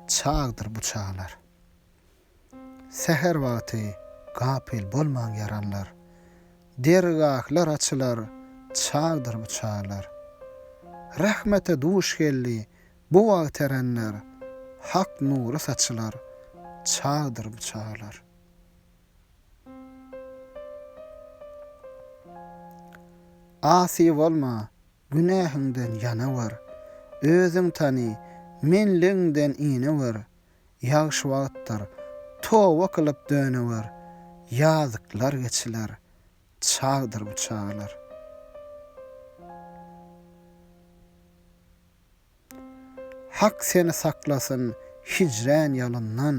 Çagdyr bu çagalar. Säher wagty gapyl bolmaň ýaranlar. Dergahlar açylar, çagdyr bu çagalar. Rahmete duş geldi bu wagt erenler, Hak nury saçylar, çagdyr bu çagalar. Asy bolma, Günähiňden ýana bar. Özüň tany, menligiňden ine bar. Ýagşy wagtdyr, toba kylyp döne bar. Ýazyklar geçiler, çagdyr bu çagalar. Hak seni saklasyn hijrän ýalyndan,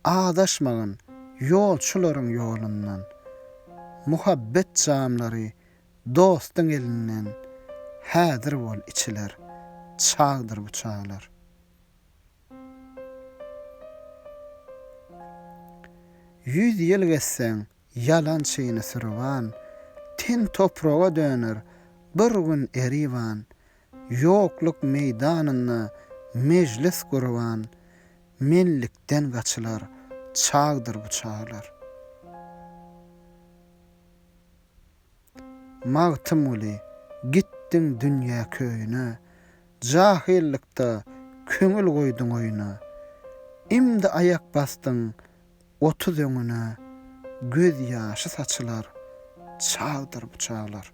Azaşmagyn ýolçularyň ýolundan. Muhabbet jamlary Dostuň elinden häzir bol içiler çagdyr bu çaglar. Ýüz ýyl gezseň ýalan çyny sürüwan ten topraga döner bir gün eriwan ýokluk meýdanynda mejlis gurwan menlikden gaçylar çagdyr bu çaglar. Magtymguly, gitdiň dünýä köýüne, Jahylykda köňül goýduň oýuna. Imdi aýak basdyň otuz öňüne, Göz ýaşy saçylar çagdyr bu çaglar.